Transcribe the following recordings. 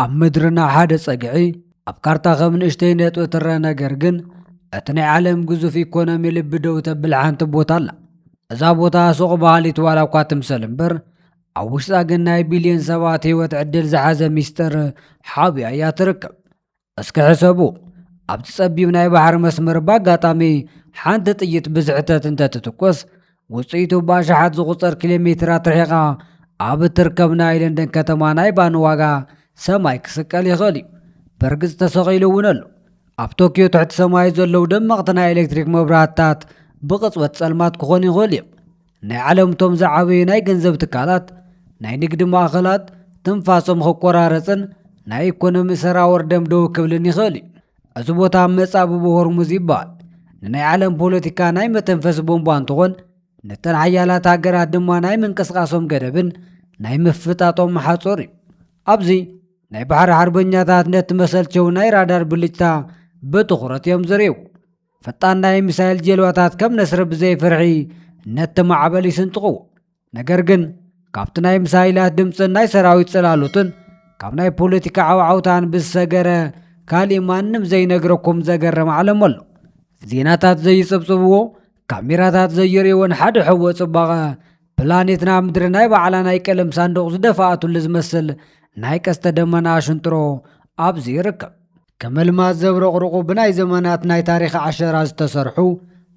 ኣብ ምድርና ሓደ ጸግዒ ኣብ ካርታ ከም ንእሽተይ ነጥቢ ትረአ ነገር ግን እቲ ናይ ዓለም ግዙፍ ኢኮኖሚ ልቢ ደው ተብል ሓንቲ ቦታ ኣላ እዛ ቦታ ሱቕ በሃሊት ዋላ እኳ ትምሰል እምበር ኣብ ውሽጣ ግን ናይ ቢልዮን ሰባት ህይወት ዕድል ዝሓዘ ሚስጥር ሓብያ እያ ትርከብ እስኪ ሕሰቡ ኣብቲ ጸቢብ ናይ ባሕሪ መስመር ብኣጋጣሚ ሓንቲ ጥይት ብዝሕተት እንተትትኮስ ውፅኢቱ ብኣሽሓት ዝቑፀር ኪሎ ሜትራት ርሒቓ ኣብ እትርከብ ናይ ለንደን ከተማ ናይ ባኒ ዋጋ ሰማይ ክስቀል ይኽእል እዩ። በርግጽ ተሰቒሉ እውን ኣሎ። ኣብ ቶክዮ ትሕቲ ሰማይ ዘለዉ ደመቕቲ ናይ ኤሌክትሪክ መብራህትታት ብቕጽበት ጸልማት ክኾኑ ይኽእሉ እዮም። ናይ ዓለም እቶም ዝዓበዩ ናይ ገንዘብ ትካላት፣ ናይ ንግዲ ማእኸላት ትንፋሶም ክቆራረጽን ናይ ኢኮኖሚ ሰራወር ደም ደው ክብልን ይኽእል እዩ። እዚ ቦታ መጻብቦ ሆርሙዝ ይበሃል ንናይ ዓለም ፖለቲካ ናይ መተንፈሲ ቦምቧ እንትኾን ነተን ሓያላት ሃገራት ድማ ናይ ምንቅስቓሶም ገደብን ናይ ምፍጣጦም ሓጹር እዩ ኣብዚ ናይ ባሕሪ ሓርበኛታት ነቲ መሰልቸው ናይ ራዳር ብልጭታ ብትኹረት እዮም ዝርእዩ ፈጣን ናይ ሚሳይል ጀልባታት ከም ነስሪ ብዘይፍርሒ ነቲ ማዕበል ይስንጥቕዎ ነገር ግን ካብቲ ናይ ምሳይላት ድምፅን ናይ ሰራዊት ጽላሎትን ካብ ናይ ፖለቲካ ዓውዓውታን ብዝሰገረ ካሊእ ማንም ዘይነግረኩም ዘገርም ዓለም ኣሎ ዜናታት ዘይጽብጽብዎ ካሜራታት ዘይርእዎን ሓደ ሕወ ጽባቐ ፕላኔትና ምድሪ ናይ ባዕላ ናይ ቀለም ሳንዱቕ ዝደፋኣትሉ ዝመስል ናይ ቀስተ ደመና ሽንጥሮ ኣብዚ ይርከብ ከም ኣልማዝ ዘብረቕርቑ ብናይ ዘመናት ናይ ታሪኽ ዓሸራ ዝተሰርሑ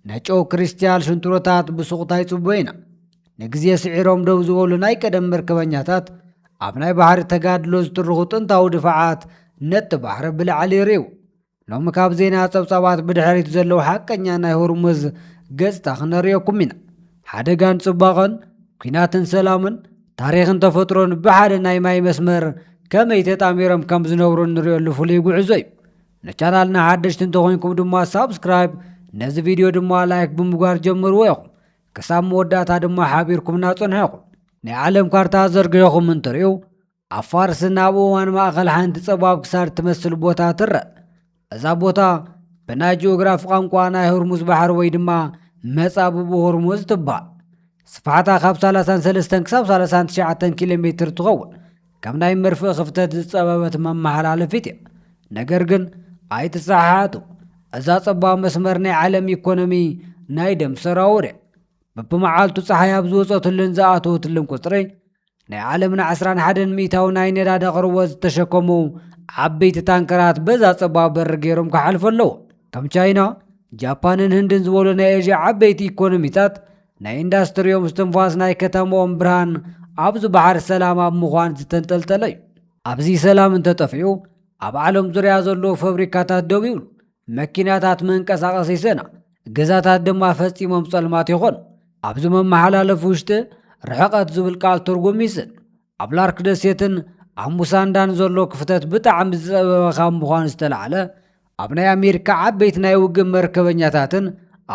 ናይ ጨው ክሪስትያል ሽንትሮታት ብሱቕታ ይጽበዩ ኢና። ንግዜ ስዒሮም ደው ዝበሉ ናይ ቀደም መርከበኛታት ኣብ ናይ ባሕሪ ተጋድሎ ዝትርኹ ጥንታዊ ድፋዓት ነቲ ባሕሪ ብላዕሊ ይርእዩ። ሎሚ ካብ ዜና ጸብጻባት ብድሕሪት ዘለዉ ሓቀኛ ናይ ሆርሙዝ ገጽታ ክነርእየኩም ኢና። ሓደጋን ጽባቐን፣ ኲናትን ሰላምን፣ ታሪኽን ተፈጥሮን ብሓደ ናይ ማይ መስመር ከመይ ተጣሚሮም ከም ዝነብሩ እንሪኦሉ ፍሉይ ጉዕዞ እዩ ንቻናልና ሓደሽቲ እንተኾይንኩም ድማ ሳብስክራይብ ነዚ ቪድዮ ድማ ላይክ ብምግባር ጀምርዎ ኢኹም ክሳብ መወዳእታ ድማ ሓቢርኩምና ጽንሑ ኢኹም ናይ ዓለም ካርታ ዘርጊሕኹም እንትርእዩ ኣብ ፋርስን ኣብ እዋን ማእኸል ሓንቲ ጸባብ ክሳድ ትመስል ቦታ ትረእ እዛ ቦታ ብናይ ጂኦግራፊ ቋንቋ ናይ ሆርሙዝ ባሕሪ ወይ ድማ መጻብቡ ሆርሙዝ ትባል ስፍሓታ ካብ 33 ክሳብ 39 ኪሎ ሜትር ትኸውን ከም ናይ መርፍእ ክፍተት ዝጸበበት መመሓላለፊት እያ ነገር ግን ኣይትሰሓሓቱ እዛ ጸባብ መስመር ናይ ዓለም ኢኮኖሚ ናይ ደም ሰራውር እያ በብመዓልቱ ፀሓይ ኣብ ዝወፀትሉን ዝኣተወትሉን ቁፅሪ ናይ ዓለምና ዓስራን ሓደን ሚእታዊ ናይ ነዳዲ ኣቕርቦት ዝተሸከሙ ዓበይቲ ታንከራት በዛ ጸባብ በሪ ገይሮም ክሓልፉ ኣለዎ ከም ቻይና ጃፓንን ህንድን ዝበሉ ናይ ኤዥያ ዓበይቲ ኢኮኖሚታት ናይ ኢንዳስትሪዮም ስትንፋስ ናይ ከተማኦም ብርሃን ኣብዚ ባሕር ሰላም ኣብ ምዃን ዝተንጠልጠለ እዩ ኣብዚ ሰላም እንተጠፊኡ ኣብ ዓለም ዙርያ ዘለዉ ፈብሪካታት ደው ይብሉ መኪናታት መንቀሳቐስ ይሰና፣ ገዛታት ድማ ፈጺሞም ጸልማት ይኾኑ። ኣብዚ መመሓላለፊ ውሽጢ ርሕቐት ዝብል ቃል ትርጉም ይስን። ኣብ ላርክ ደሴትን ኣብ ሙሳንዳን ዘሎ ክፍተት ብጣዕሚ ዝጸበበ ካብ ምዃኑ ዝተላዕለ ኣብ ናይ ኣሜሪካ ዓበይቲ ናይ ውግእ መርከበኛታትን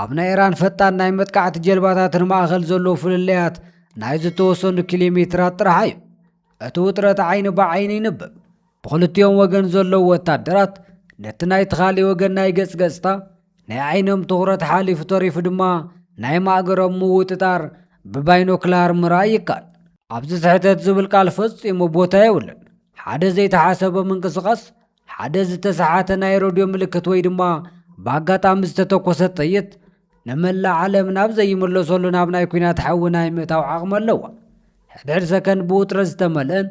ኣብ ናይ ኢራን ፈጣን ናይ መጥቃዕቲ ጀልባታትን ማእኸል ዘሎ ፍልልያት ናይ ዝተወሰኑ ኪሎ ሜትራት ጥራሕ እዩ። እቲ ውጥረት ዓይኒ ብዓይኒ ይንብብ። ብኽልቲኦም ወገን ዘለዉ ወታደራት ነቲ ናይቲ ካልእ ወገን ናይ ገጽ ገጽታ፣ ናይ ዓይኖም ትኹረት ሓሊፉ ተሪፉ ድማ ናይ ማእገሮም ምውጥጣር ብባይኖክላር ምርኣይ ይከኣል። ኣብዚ ስሕተት ዝብል ቃል ፈጺሙ ቦታ የብሉን። ሓደ ዘይተሓሰበ ምንቅስቓስ ሓደ ዝተሰሓተ ናይ ረድዮ ምልክት ወይ ድማ ብኣጋጣሚ ዝተተኮሰ ጥይት ንመላእ ዓለም ናብ ዘይምለሰሉ ናብ ናይ ኩናት ሓዊ ናይ ምእታው ዓቕሚ ኣለዋ ሕድሕድ ሰከንድ ብውጥረት ዝተመልአን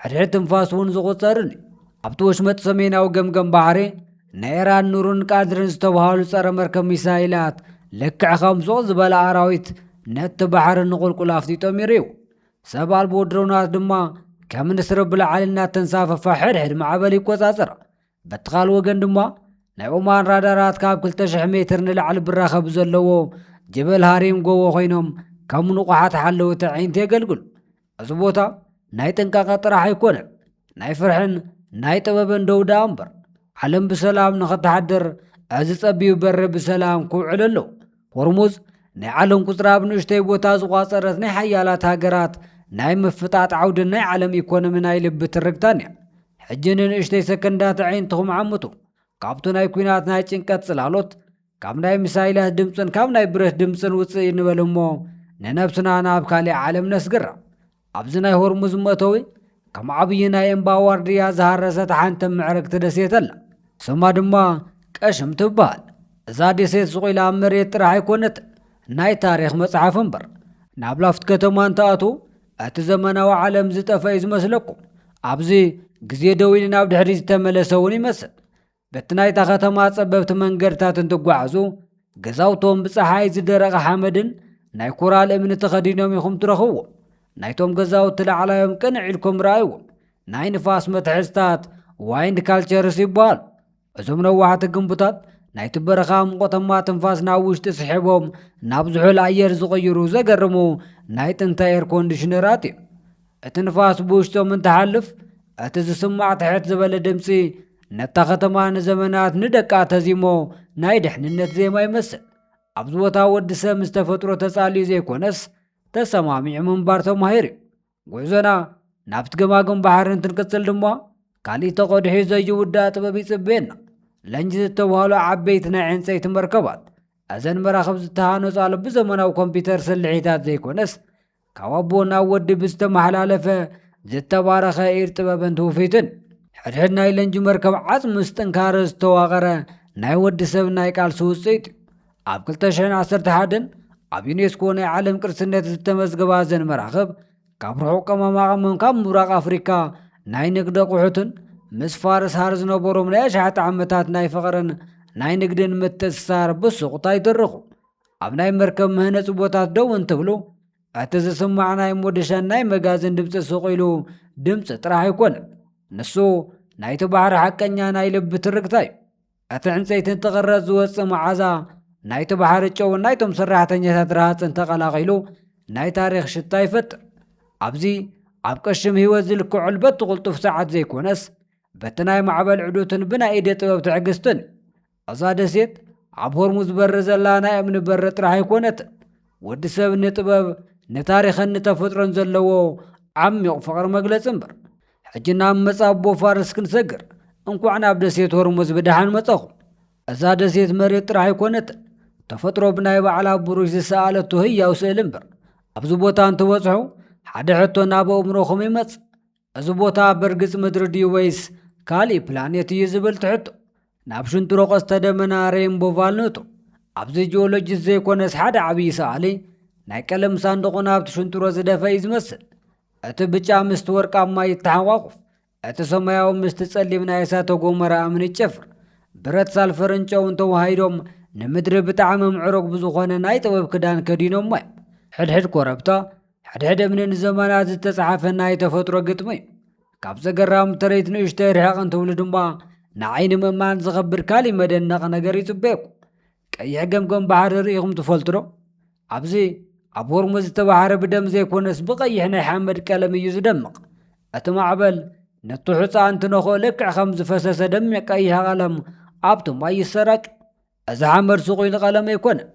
ሕድሕድ ትንፋስ እውን ዝቑፀርን እዩ ኣብቲ ወሽመጥ ሰሜናዊ ገምገም ባሕሪ ንኤራን ኑሩን ቃድርን ዝተብሃሉ ጸረ መርከብ ሚሳይላት ልክዕ ከም ሱቕ ዝበለ ኣራዊት ነቲ ባሕሪ ንቑልቁል ኣፍጢጦም ይርዩ ሰብ ኣልቦ ድሮናት ድማ ከም ንስሪ ብላዕሊ እናተንሳፈፋ ሕድሕድ ማዕበል ይቆጻጸራ። በቲ ካልእ ወገን ድማ ናይ ኦማን ራዳራት ካብ 2,000 ሜትር ንላዕሊ ብራኸ ብዘለዎ ጀበል ሃሪም ጎቦ ኮይኖም ከም ንቑሓት ሓለውቲ ኣዒንቲ የገልግሉ። እዚ ቦታ ናይ ጥንቃቐ ጥራሕ ኣይኮነን፣ ናይ ፍርሕን ናይ ጥበብን ደው ደኣ እምበር ዓለም ብሰላም ንኽትሓድር እዚ ጸቢብ በሪ ብሰላም ክውዕል ኣለዎ። ሆርሙዝ ናይ ዓለም ቁፅሪ ኣብ ንእሽተይ ቦታ ዝቋፀረት ናይ ሓያላት ሃገራት ናይ ምፍጣጥ ዓውድን ናይ ዓለም ኢኮኖሚ ናይ ልቢ ትርግታን እያ ሕጂ ንንእሽተይ ሰከንዳት ዓይንትኹም ዓምቱ ካብቲ ናይ ኩናት ናይ ጭንቀት ጽላሎት ካብ ናይ ሚሳይላት ድምፅን ካብ ናይ ብረት ድምፅን ውፅእ ንበል እሞ ንነብስና ናብ ካሊእ ዓለም ነስግራ ኣብዚ ናይ ሆርሙዝ መእተዊ ከም ዓብዪ ናይ እምባ ዋርድያ ዝሃረሰት ሓንቲ ምዕርግቲ ደሴት ኣላ። ስማ ድማ ቀሽም ትበሃል። እዛ ደሴት ስቑኢላ ኣብ መሬት ጥራሕ ኣይኮነትን፣ ናይ ታሪኽ መጽሓፍ እምበር። ናብ ላፍት ከተማ እንትኣትዉ እቲ ዘመናዊ ዓለም ዝጠፍአ እዩ ዝመስለኩም። ኣብዚ ግዜ ደው ኢሉ ናብ ድሕሪት ዝተመለሰ እውን ይመስል። በቲ ናይታ ኸተማ ጸበብቲ መንገድታት እንትጓዓዙ ገዛውቶም ብፀሓይ ዝደረቐ ሓመድን ናይ ኮራል እምኒ ተኸዲኖም ኢኹም ትረኽብዎ ናይቶም ገዛውቲ ላዕላዮም ቅንዕ ኢልኩም ረኣይዎም ናይ ንፋስ መትሐዝታት ዋይንድ ካልቸርስ ይበሃሉ እዞም ነዋሕቲ ግንቡታት ናይቲ በረኻ ሙቐተማ ትንፋስ ናብ ውሽጢ ስሒቦም ናብ ዝሑል ኣየር ዝቕይሩ ዘገርሙ ናይ ጥንተ ኤር ኮንዲሽነራት እዩ እቲ ንፋስ ብውሽጦም እንትሓልፍ እቲ ዝስማዕ ትሕት ዝበለ ድምፂ ነታ ከተማ ንዘመናት ንደቃ ተዚሞ ናይ ድሕንነት ዜማ ይመስል። ኣብዚ ቦታ ወዲ ሰብ ምስ ተፈጥሮ ተጻልዩ ዘይኮነስ ተሰማሚዑ ምንባር ተማሂሩ እዩ። ጉዕዞና ናብቲ ገማግም ባሕሪ እንትንቅጽል ድማ ካሊእ ተቐድሒ ዘይውዳእ ጥበብ ይጽበየና ለንጅ ዝተባህሉ ዓበይቲ ናይ ዕንፀይቲ መርከባት እዘን መራኽብ ዝተሃነፃሉ ብዘመናዊ ኮምፒውተር ስልሒታት ዘይኮነስ ካብ ኣቦ ናብ ወዲ ብዝተመሓላለፈ ዝተባረኸ ኢድ ጥበብን ትውፊትን ሕድሕድ ናይ ለንጂ መርከብ ዓፅ ምስ ጥንካረ ዝተዋቐረ ናይ ወዲ ሰብ ናይ ቃልሲ ውፅኢት እዩ። ኣብ 2011 ኣብ ዩኔስኮ ናይ ዓለም ቅርስነት ዝተመዝገባ እዘን መራኽብ ካብ ርሑቕ ቀመማቐመም ካብ ምብራቕ ኣፍሪካ ናይ ንግዲ ኣቑሑትን ምስ ፋርስ ሃር ዝነበሮም ናይ ኣሽሓት ዓመታት ናይ ፍቕርን ናይ ንግድን ምትእስሳር ብሱቕታ ይትርኹ። ኣብ ናይ መርከብ መህነፂ ቦታት ደው እንትብሉ እቲ ዝስማዕ ናይ ሞደሻን ናይ መጋዝን ድምፂ ሱቕ ኢሉ ድምፂ ጥራሕ ኣይኮነን። ንሱ ናይቲ ባሕሪ ሓቀኛ ናይ ልቢ ትርክታ እዩ። እቲ ዕንፀይቲ እንትቕረፅ ዝወፅእ መዓዛ ናይቲ ባሕሪ ጨውን ናይቶም ሰራሕተኛታት ረሃፅን ተቐላቒሉ ናይ ታሪኽ ሽታ ይፈጥር። ኣብዚ ኣብ ቅሽም ህይወት ዝልክዐሉ በቲ ቁልጡፍ ሰዓት ዘይኮነስ በቲ ናይ ማዕበል ዕዱትን ብናይ ኢደ ጥበብ ትዕግስትን እዛ ደሴት ኣብ ሆርሙዝ በሪ ዘላ ናይ እምኒ በሪ ጥራሕ ኣይኮነትን። ወዲ ሰብ ንጥበብ ንታሪኽን ንተፈጥሮን ዘለዎ ዓሚቕ ፍቕሪ መግለጺ እምበር። ሕጂ ናብ መጻቦ ፋርስ ክንሰግር፣ እንኳዕ ናብ ደሴት ሆርሙዝ ብደሓን መጻኹም። እዛ ደሴት መሬት ጥራሕ ኣይኮነትን፣ ተፈጥሮ ብናይ ባዕላ ብሩሽ ዝሰኣለቶ ህያው ስእሊ እምበር። ኣብዚ ቦታ እንትበጽሑ ሓደ ሕቶ ናብ ኣእምሮኹም ይመጽእ፣ እዚ ቦታ በርግጽ ምድሪ ድዩ ወይስ ካልእ ፕላኔት እዩ ዝብል ትሕቶ ናብ ሽንጥሮ ቀስተ ደመና ሬንቦቫል ነቱ ኣብዚ ጂኦሎጂስት ዘይኮነስ ሓደ ዓብዪ ሰኣሊ ናይ ቀለም ሳንድቑ ናብቲ ሽንጥሮ ዝደፈ እዩ ዝመስል እቲ ብጫ ምስቲ ወርቃማ ይተሓቋቑፍ እቲ ሰማያዊ ምስቲ ጸሊም ናይ እሳተ ጎመራ እምኒ ይጨፍር ብረት ሳልፈርን ጨውን ተዋሂዶም ንምድሪ ብጣዕሚ ምዕሩግ ብዝኾነ ናይ ጥበብ ክዳን ከዲኖሞ እዮም ሕድሕድ ኮረብታ ሕድሕድ እምኒ ንዘመናት ዝተጻሓፈ ናይ ተፈጥሮ ግጥሚ እዩ ካብ ዘገራም ትርኢት ንእሽተይ ርሕቕ እንትብሉ ድማ ንዓይኒ ምእማን ዝኸብድ ካሊእ መደነቕ ነገር ይጽበየኩ ቀይሕ ገምገም ባሕሪ ርኢኹም ትፈልጡ ዶ ኣብዚ ኣብ ሆርሙዝ ዝተባሕረ ብደም ዘይኮነስ ብቐይሕ ናይ ሓመድ ቀለም እዩ ዝደምቕ እቲ ማዕበል ነቲ ሑፃ እንትነኽኦ ልክዕ ከም ዝፈሰሰ ደሚቕ ቀይሕ ቀለም ኣብቲ ማይ ይሰራጩ እዚ ሓመድ ስቑይ ንቐለም ኣይኮነን።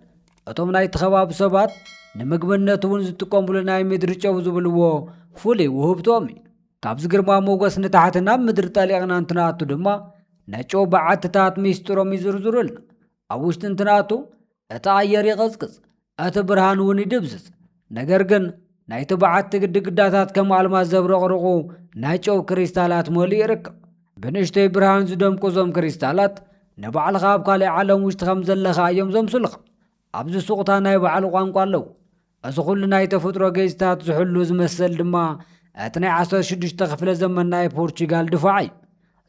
እቶም ናይቲ ከባቢ ሰባት ንምግብነት እውን ዝጥቀሙሉ ናይ ምድሪ ጨው ዝብልዎ ፍሉይ ውህብቶም እዩ። ካብዚ ግርማ ሞገስ ንታሕቲ ናብ ምድሪ ጠሊቕና እንትንኣቱ ድማ ነጨው በዓትታት ሚስጥሮም ይዝርዝሩልና። ኣብ ውሽጢ እንትንኣቱ እቲ ኣየር ይቕዝቅዝ፣ እቲ ብርሃን እውን ይድብዝዝ። ነገር ግን ናይቲ በዓቲ ግድግዳታት ከም ኣልማዝ ዘብረቕርቑ ናይ ጨው ክሪስታላት መሊኡ ይርከብ። ብንእሽተይ ብርሃን ዝደምቁ እዞም ክሪስታላት ንባዕልኻ ኣብ ካልእ ዓለም ውሽጢ ከም ዘለኻ እዮም ዘምስሉኻ። ኣብዚ ሱቕታ ናይ ባዕሉ ቋንቋ ኣለዎ። እዚ ኩሉ ናይ ተፈጥሮ ጌጽታት ዝሕሉ እዚ መሰል ድማ እቲ ናይ ዓሰርተ ሽዱሽተ ክፍለ ዘመን ናይ ፖርቹጋል ድፋዕ እዩ።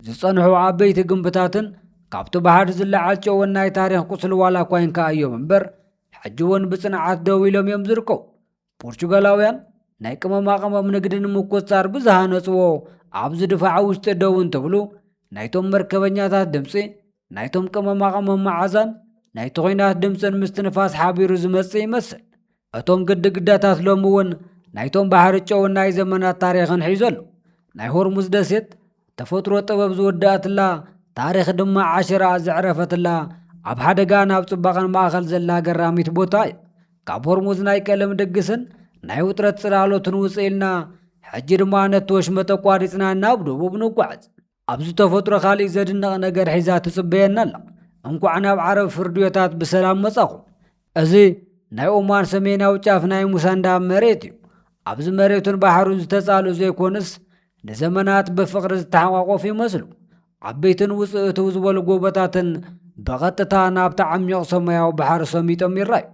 ዝጸንሑ ዓበይቲ ግንብታትን ካብቲ ባሕር ዝለዓል ጨወን ናይ ታሪኽ ቁስሊ ዋላ እኳ ይንከኣ እዮም እምበር ሕጂ እውን ብጽንዓት ደው ኢሎም እዮም ዝርከቡ ፖርቹጋላውያን ናይ ቅመማ ቅመም ንግዲ ንምቁፅፃር ብዝሃነፅዎ ኣብ ዝድፋዕ ውሽጢ ደው እንትብሉ ናይቶም መርከበኛታት ድምፂ ናይቶም ቅመማ ቅመም መዓዛን ናይቲ ኹናት ድምፅን ምስትንፋስ ሓቢሩ ዝመፅእ ይመስል እቶም ግድግዳታት ሎሚ እውን ናይቶም ባሕሪ ጨውን ናይ ዘመናት ታሪኽን ሒዞ ኣሎ። ናይ ሆርሙዝ ደሴት ተፈጥሮ ጥበብ ዝወደኣትላ ታሪኽ ድማ ዓሸራኣ ዘዕረፈትላ ኣብ ሓደጋ ናብ ጽባቐን ማእኸል ዘላ ገራሚት ቦታ እያ። ካብ ሆርሙዝ ናይ ቀለም ድግስን ናይ ውጥረት ጽላሎትን ውጽእ ኢልና ሕጂ ድማ ነቲ ወሽመጥ ኣቋሪጽና ናብ ደቡብ ንጓዓዝ። ኣብዚ ተፈጥሮ ካሊእ ዘድነቕ ነገር ሒዛ ትጽበየና ኣላ። እንኳዕ ናብ ዓረብ ፍርድዮታት ብሰላም መጻኹም። እዚ ናይ ኦማን ሰሜናዊ ጫፍ ናይ ሙሳንዳ መሬት እዩ። ኣብዚ መሬቱን ባሕሩን ዝተጻልኡ ዘይኮኑስ ንዘመናት ብፍቕሪ ዝተሓቋቆፉ ይመስሉ። ዓበይትን ውጽእትው ዝበሉ ጎቦታትን ብቐጥታ ናብቲ ዓሚቕ ሰማያዊ ባሕሪ ሰሚጦም ይራዩ።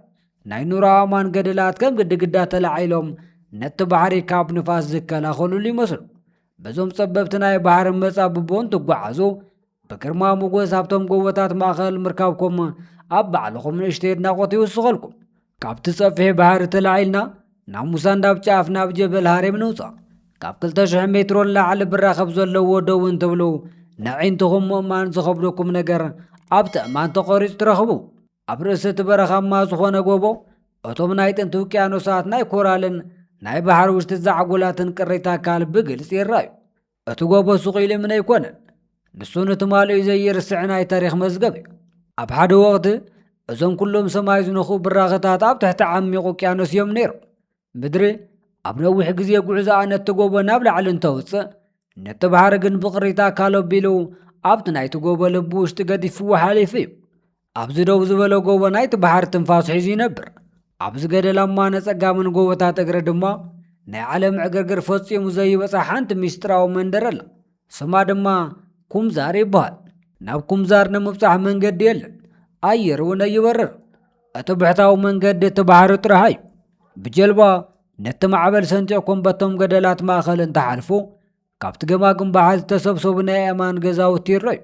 ናይ ኑሮ ኣእማን ገደላት ከም ግድግዳ ተላዒሎም ነቲ ባሕሪ ካብ ንፋስ ዝከላኸሉሉ ይመስሉ። በዞም ጸበብቲ ናይ ባሕሪ መጻብቦን ትጓዓዙ ብግርማ ሞጎስ ኣብቶም ጎቦታት ማእኸል ምርካብኩም ኣብ ባዕልኹም ንእሽተ ኣድናቖት ይውስኸልኩም ካብቲ ጸፍሒ ባህሪ ተላዒልና ናብ ሙሳንዳብ ጫፍ ናብ ጀበል ሃሬም ንውጻእ ካብ 200 ሜትሮ ንላዕሊ ብራኸብ ዘለዎ ደው እንትብሉ ንዒንትኹም ምእማን ዝኸብደኩም ነገር ኣብቲ እማን ተቖሪጹ ትረኽቡ ኣብ ርእሲ እቲ በረኻማ ዝኾነ ጎቦ እቶም ናይ ጥንቲ ውቅያኖሳት ናይ ኮራልን ናይ ባሕሪ ውሽጢ ዛዕጎላትን ቅሪተ ኣካል ብግልፂ ይረኣዩ እቲ ጎቦ ስቑ ኢልምን ኣይኮነን ንሱ ንትማልኡ ዘይርስዕ ናይ ታሪክ መዝገብ እዩ ኣብ ሓደ ወቕቲ እዞም ኩሎም ሰማይ ዝነኽኡ ብራኸታት ኣብ ትሕቲ ዓሚቕ ውቅያኖስ እዮም ነይሮም ምድሪ ኣብ ነዊሕ ግዜ ጉዕዞኣ ነቲ ጎቦ ናብ ላዕሊ እንተውፅእ ነቲ ባሕሪ ግን ብቕሪት ኣካል ኣቢሉ ኣብቲ ናይቲ ጎቦ ልቢ ውሽጢ ገዲፍዎ ሓሊፉ እዩ ኣብዚ ደው ዝበለ ጎቦ ናይቲ ባሕሪ ትንፋሱ ሒዙ ይነብር ኣብዚ ገደላማ ነጸጋምን ጎቦታት እግሪ ድማ ናይ ዓለም ዕግርግር ፈጺሙ ዘይበጻ ሓንቲ ምስጢራዊ መንደር ኣላ ስማ ድማ ኩምዛር ይበሃል። ናብ ኩምዛር ንምብጻሕ መንገዲ የለን፣ ኣየር እውን ኣይበርር። እቲ ብሕታዊ መንገዲ እቲ ባሕሪ ጥራሕ እዩ። ብጀልባ ነቲ ማዕበል ሰንጢቕኩም በቶም ገደላት ማእኸል እንተሓልፉ፣ ካብቲ ገማግም ባሕሪ ዝተሰብሰቡ ናይ ኣእማን ገዛውቲ ይረኣዩ።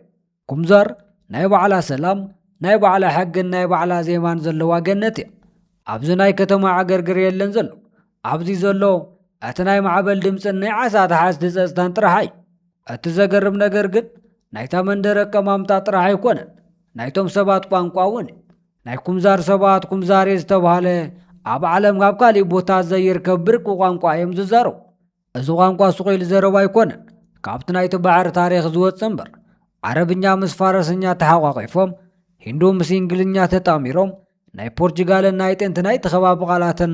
ኩምዛር ናይ ባዕላ ሰላም፣ ናይ ባዕላ ሕግን ናይ ባዕላ ዜማን ዘለዋ ገነት እያ። ኣብዚ ናይ ከተማ ዕግርግር የለን ዘሎ። ኣብዚ ዘሎ እቲ ናይ ማዕበል ድምፅን ናይ ዓሳ ተሓዝቲ ፀፅታን ጥራሕ እዩ። እቲ ዘገርም ነገር ግን ናይታ መንደር ኣቀማምጣ ጥራሕ ኣይኮነን፣ ናይቶም ሰባት ቋንቋ እውን እዩ። ናይ ኩምዛር ሰባት ኩምዛሬ ዝተባህለ ኣብ ዓለም ካብ ካሊእ ቦታ ዘይርከብ ብርቂ ቋንቋ እዮም ዝዛረቡ። እዚ ቋንቋ ስቑኢሉ ዘረባ ኣይኮነን፣ ካብቲ ናይቲ ባሕሪ ታሪኽ ዝወጸ እምበር፣ ዓረብኛ ምስ ፋረሰኛ ተሓቋቒፎም፣ ሂንዱ ምስ እንግሊዝኛ ተጣሚሮም፣ ናይ ፖርቹጋልን ናይ ጥንቲ ናይቲ ከባቢ ቃላትን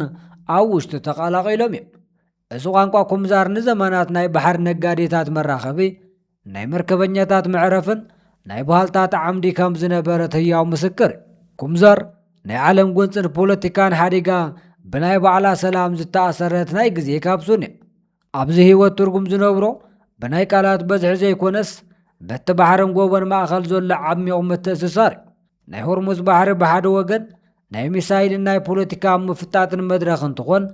ኣብ ውሽጡ ተቐላቒሎም እዮም። እዚ ቋንቋ ኩምዛር ንዘመናት ናይ ባሕሪ ነጋዴታት መራኸቢ፣ ናይ መርከበኛታት መዕረፍን ናይ ባህልታት ዓምዲ ከም ዝነበረት ህያው ምስክር እዩ። ኩምዛር ናይ ዓለም ጎንፅን ፖለቲካን ሓዲጋ ብናይ ባዕላ ሰላም ዝተኣሰረት ናይ ግዜ ካብሱን እያ። ኣብዚ ህይወት ትርጉም ዝነብሮ ብናይ ቃላት በዝሒ ዘይኮነስ በቲ ባሕርን ጎቦን ማእኸል ዘሎ ዓሚቕ ምትእስሳር እዩ። ናይ ሆርሙዝ ባሕሪ ብሓደ ወገን ናይ ሚሳይልን ናይ ፖለቲካ ምፍጣጥን መድረኽ እንትኾን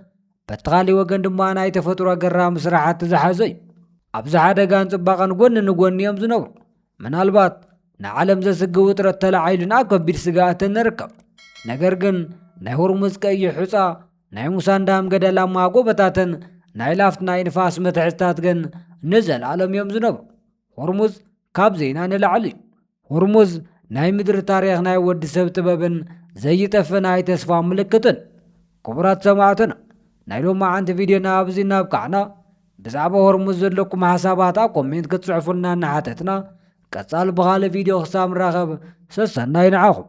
በቲ ኻሊእ ወገን ድማ ናይ ተፈጥሮ ኣገራሚ ስራሕቲ ዝሓዘ እዩ። ኣብዚ ሓደጋን ጽባቐን ጎኒ ንጎኒ እዮም ዝነብሩ። ምናልባት ንዓለም ዘስግእ ውጥረት ተላዒሉና ኣብ ከቢድ ስግኣት እንርከብ። ነገር ግን ናይ ሆርሙዝ ቀይሕ ሑጻ፣ ናይ ሙሳን ዳም ገደላማ ጎበታትን ናይ ላፍት ናይ ንፋስ መትሕዝታት ግን ንዘለኣለም እዮም ዝነብሩ። ሆርሙዝ ካብ ዜና ንላዕሊ እዩ። ሁርሙዝ ናይ ምድሪ ታሪኽ ናይ ወዲ ሰብ ጥበብን ዘይጠፍእ ናይ ተስፋ ምልክትን። ክቡራት ሰማዕትና ናይ ሎማዓንቲ ቪድዮና ኣብዚ እናብቃዕና ብዛዕባ ሆርሙዝ ዘለኩም ሓሳባት ኣብ ኮሜንት ክትጽሕፉልና እናሓተትና ቀጻሊ ብኻልእ ቪድዮ ክሳብ ንራኸብ ሰሰናይ ንዓኹም